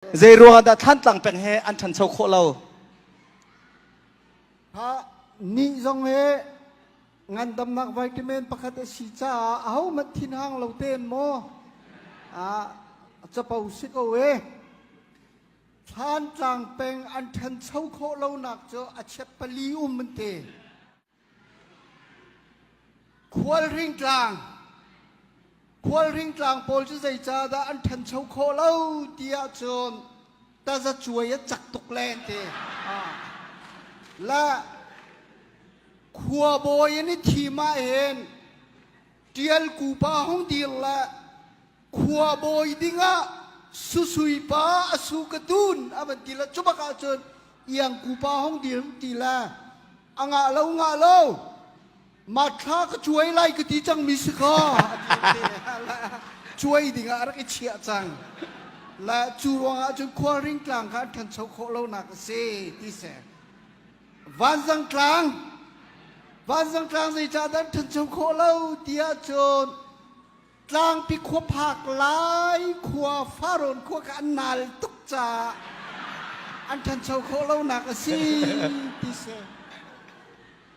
Zeiruangah dah Thlantlang peng he an ṭhancho khawh lo? Ha, nih zong hi ngandamnak vitamin pakhat a si caah ahohmanh thinhang lo tein maw ah capo si ko e. Thlantlang peng an ṭhancho khawh lonak cu a chiat pali um an ti. Khualring tlang Khualring tlang pawl cu zeicahdah an ṭhancho khawh lo tiah cun tazacuai a cak tuk len ti. Le khuabawi an i thim ahhin ṭialku pa hung dir le khuabawi dingah susui pa a su ka tun a van ti le cubak ahcun iangku pa hung dir ti le a ngah lo ngah lo matthla ka cuai lai ka ti cangmi si kha cuai dingah a rak i chiah cang la cu ruangah cun khualring tlang kha an ṭhancho khawh lonak a si ti se vanzang tlang vanzang tlang zeicahdah an ṭhancho khawh lo tiah cun Tlangpi khua phak lai khua Faron khua kha an nal tuk caah an ṭhancho khawh lonak a si ti si.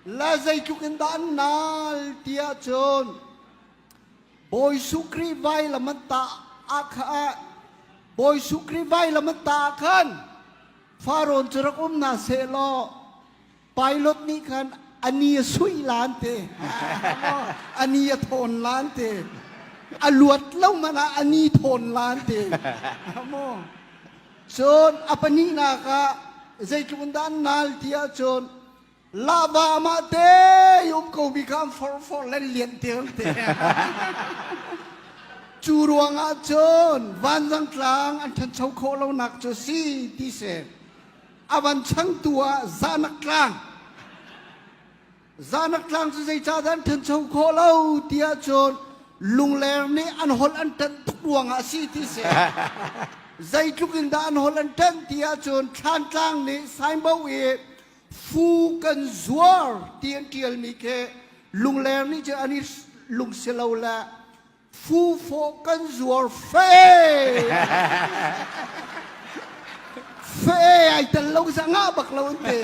La zeitluk in dah an nal ti ahcun Bawi Suh Khrih vailam an tah ah kha ah Bawi Suh Khrih vailam an tah ah khan Faron cu rak um hna seh law Pilot nih khan ani a suih lan te, ani a thawn lan te, a luat lo man ah ani thawn lan te. Cun a pahnihnak ah zeitlun dan nal ti ahcun lava mah te um ko mi kha for for len lian te te. Cu ruang ahcun vanzang tlang an ṭhancho khawh lonak cu si ti si. a van changtu ah Zanak Tlang Zanak Tlang cu zeicah dan ṭhancho khawh lo tiah cun Lungleng nih an holh an ṭanh tuk ruangah a si ti si zeitluk in dah an holh an ṭanh tiah cun Thlantlang nih Saingbo i fu kan zuar ti an ṭialmi khi Lungleng nih cun an i lungsi lo le Fufawh kan zuar fe. Fe ai tel lo zangah bak lo an te.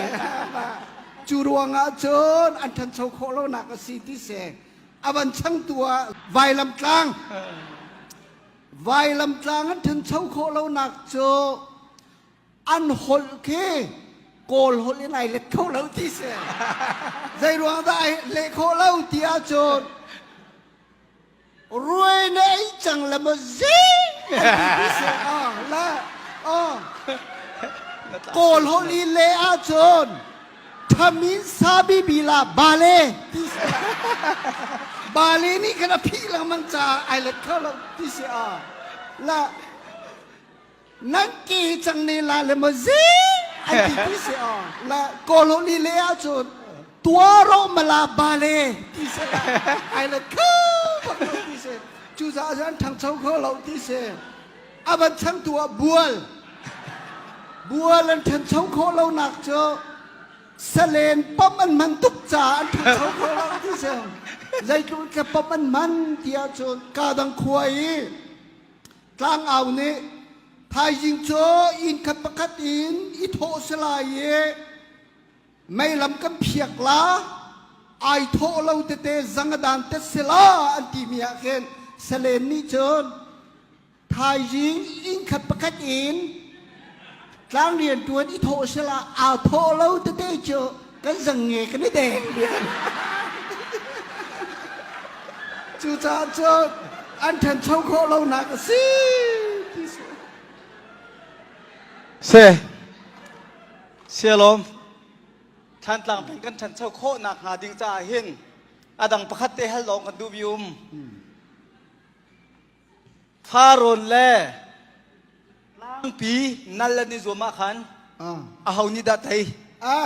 Cu ruangah cun an ṭhancho khawh lonak a si ti se a van changtu ah vailam tlang vailam tlang an ṭhancho khawh lonak cu an holh khi kawl holh in ai let kho lo ti se zei ruang dah ai leh khawh lo ti ahcun Ruai na ei cang la maw zi? Kawl holh le ahcun thamin sabibila bale ti si. Bale nih kan a phih lengmang caah ai let kho lo ti si ah la nan ki cang ne la le maw zi an ti ti si a na colony le ah cun tua ro mala ba le ti se ai le kha ti se cu za zan thangcho kho lo ti se aban chang tu a bual bual an thancho kho lo nak cu salen pom an man tuk cha an thancho kho lo ti se zeitluk ka pom an man tia cun ka dang khua i Tlangau nih thaizing cu innkhat pakhat in i thawh si lai i meilam kan phiak la ai thawh lo tete zangadan te si la an timi ah khin salen nih cun thaizing innkhat pakhat in Tlang rianṭuan i thawh sal ah aa thawh lo tete cu kan zang nge kan i deng dian. Cucaah cu an ṭhancho khawh lonak a si ti si. Se, sialawm, Thantlang peng kan ṭhancho khawh nakhnga ding caah hin a dang pakhat te hal awng kan duh bi um. Farawn le tlangpi nal an i zuam ah khan aho nih dah tei? A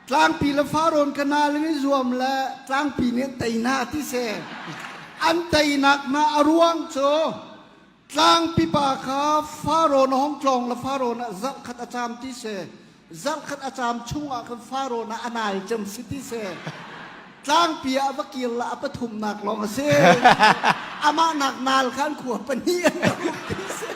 tlangpi le farawn ka nal an i zuam le tlangpi nih an tei na ti se an teinak na a ruang cu tlangpi pa kha farawn a hong tlawng le farawn ah zarh khat a caam ti si. zarhkhat a caam chung ah khan Faro na a nai cem si ti seh. Tlangpi ah va kir la a pathumnak lawng a si. Amah nak nal khan khua pahnih an rak um ti seh.